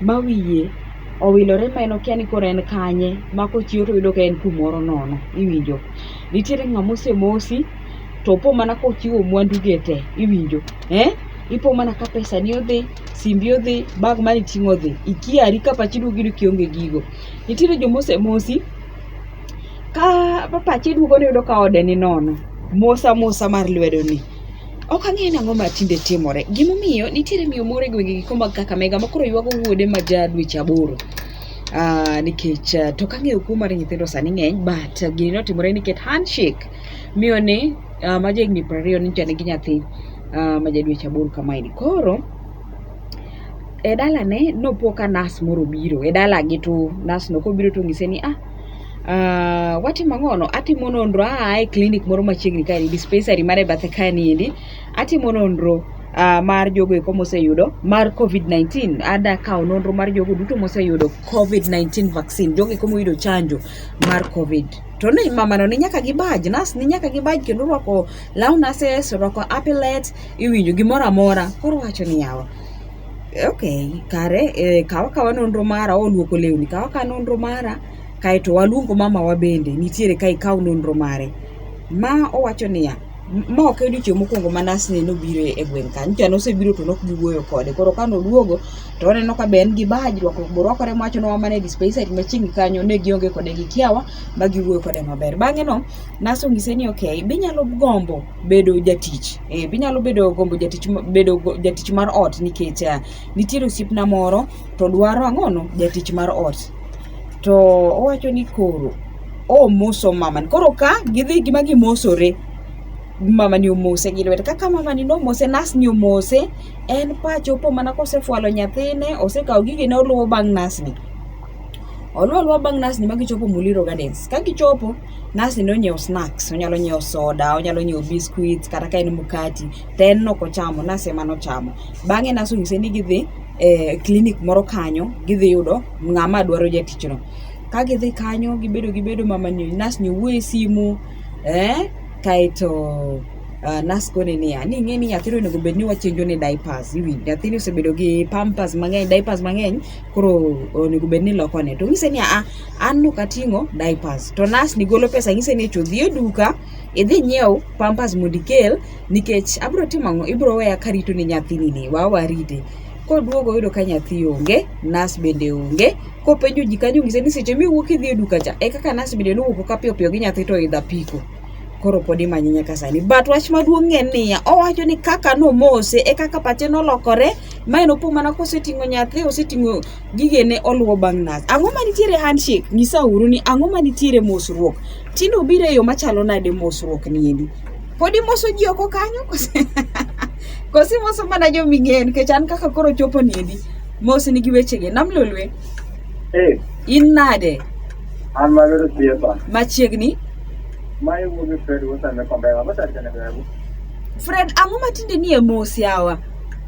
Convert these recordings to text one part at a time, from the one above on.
ma wiye owilore ma en okia ni koro en kanye ma kochiew toyudo ka en kumoro nono iwinjo. Nitiere ng'ama osemosi to opo mana kochiwo mwandu ge te iwinjo eh, ipo mana ka pesani odhi, simbi odhi, bag mane iting'o odhi, ikiari ka pachi duogo iyudo ka ionge gigo. Nitiere joma osemosi ka pachi duogo ni iyudo ka ode ni nono, mosamosa mar lwedo ni. Ok ang'eyo nang'o ma tinde timore. Gimomiyo nitiere miyo moro e gwenge giko mag Kakamega ma koro ywago wuode ma ja dweche aboro. Uh, nikech uh, to kang'eyo kuo mar nyithindo sani ng'eny but uh, gini notimore nikech handshake miyo ni uh, ma jahigni piero ariyo ni nigi nyathi uh, ma ja dweche aboro kamaeni koro e dalane nopo ka nas moro biro e dalagi to nasno kobiro to onyise ni ah Uh, watimo ang'ono atimo nonro aa e clinic moro machiegni kaeni dispensary mare bathe kaeni endi atimo nonro uh, mar jogo eko moseyudo mar covid-19 ada kawo nonro mar jogo duto moseyudo covid-19 vaccine jogo eko moyudo chanjo mar covid to ni mamano ni nyaka gibaj nas ni nyaka gibaj kendo rwako law nases rwako apilet iwinjo gimoro amora koro wacho ni yawa ok kare eh, kaw akawa nonro mara oluoko lewni kaw akawa nonro mara kaeto waluongo mamawa bende nitiere ka ikaw nonro mare ma owacho niya "M- ma ok e odiochieng' mokwongo ma nasne nobiro e gweng' kanyo cha nosebiro to nok giwuoyo kode koro ka noduogo to oneno ka be en gi baj rwakruok borwakore mowacho nowa mana e dispensary machiegni kanyo ne gionge kode gi kiawa ma giwuoyo kode maber bang'e no nas onyise ni ok binyalo gombo bedo jatich Eh, binyalo bedo gombo jatich bedo jatich mar ot nikech uh, nitiere osiepna moro to dwaro ang'ono jatich mar ot to owacho ni koro omoso mamani koro ka gidhi gima gimosore mamani omose gi lwete kaka mamani nomose nasni omose en pache opo mana kosefwalo nyathine osekawo gigene oluwo bang' nasni oluwo oluwa bang' nasni ma gichopo muliro gardens ka gichopo Nurse ni onyiew snacks, onyalo nyiew soda, onyalo nyiew biscuits kata ka en mkati, to en no ok ochamo, nurse ema nochamo. Bang'e nurse onyise ni gidhi e clinic moro kanyo, gidhi yudo ng'ama dwaro jatichno. Ka gidhi kanyo gibedo gibedo mamani nurse ni wuoyo e simu, eh, kaeto Uh, nurse kone niya ni ing'e ni nyathini onego bed ni wachenjo ne diapers iwinjo nyathini osebedo gi pampers mang'eny diapers mang'eny koro onego bed ni iloko ne to onyise ni aa an no kating'o diapers to nas ni golo pesa ng'ise ni echo dhi e duka idhi nyiew pampers mondo ikel nikech abro timo ang'o ibro weya karito ne nyathini ni wa warite koduogo oyudo ka nyathi onge nas bende onge kopenjo ji kanyo ng'ise ni seche miwuok idhi e duka cha e kaka nas bende nowuok ka piyo piyo gi nyathi to idha piko koro pod imanye nyaka sani but wach maduong' en niya owacho ni kaka nomose e kaka pache nolokore ma en opo mana koseting'o nyathi oseting'o gigene oluwo bang' nas. Ang'o ma nitiere handshake? Nyisa uru ni ang'o ma nitiere mosruok? Tinde obiro e yo machalo nade mosruok niendi? Pod imoso ji oko kanyo? Kosi moso mana jo ming'eyo nikech an kaka koro chopo niendi. Mos nigi wechege. Nam Lolwe. Hey. In nade? An magero siepa. Machiegni? Ma iwuogi Fred Wosame Kombela. Fred, ang'o ma tinde nie mos yawa?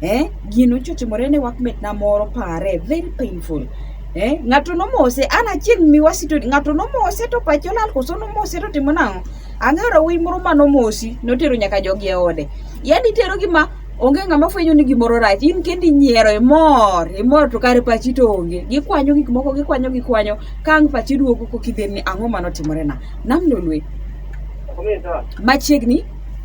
eh, gino nyocha otimore ne workmate-na moro pare, very painful. Eh, ng'ato nomose, an achieng' miwasi to ng'ato nomose to pache olal koso nomose to timo nang'o? Ang'eyo wuoyi moro ma nomosi, notero nyaka jogi e ode. Yaani itero gi ma onge ng'ama fwenyo ni gimoro rach, in kendi inyiero, imor, imor to kare pachi to onge. Gikwanyo gik moko, gikwanyo gikwanyo, ka ang' pachi duogo kokidhe ni ang'o ma notimorena. Nam lolwe, Machiegni.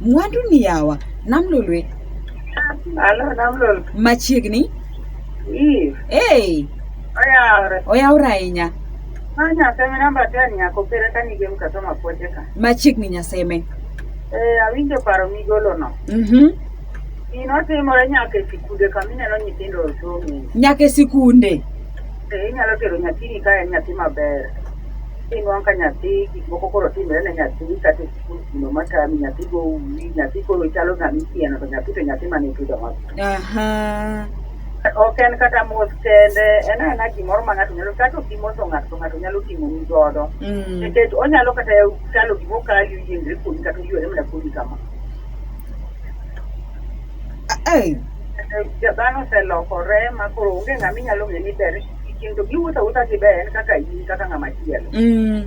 Mwandu ni yawa. Namlolwe. Alo, namlol. Machiegni. Ii. Hey. Oyawre. Oyawre ahinya. Ma nyaseme namba ten nyako pere ka nige mkato mapoche ka. Machiegni nyaseme. Eh, awinjo paro migolo no. Mhm. Mm Gino timore nyaka e sikunde kama ineno nyithindo osomo. Nyaka e sikunde. Eh, inyalo tero nyathini ka en nyathi maber. Inwang' ka nyathi gik moko koro timre ne nyathi kata gino matami nyathi go uwi nyathi koro chalo ng'ama ikieno to nyathi to nyathi mane ipidho ma Aha. ok en kata mos kende en aena gimoro ma ng'ato nyalo kata ok imoso ng'ato to ng'ato nyalo timoni godo Mm. nikech onyalo kata chalo gima okali oyiengre kuomi kata oywere mana kuomi kama Ai. Ja- dhano oselokore ma koro onge ng'ama inyalo ng'e ni ber kitindo giwuotho awuotha gi ber en kaka in kaka ng'ama chielo Mm.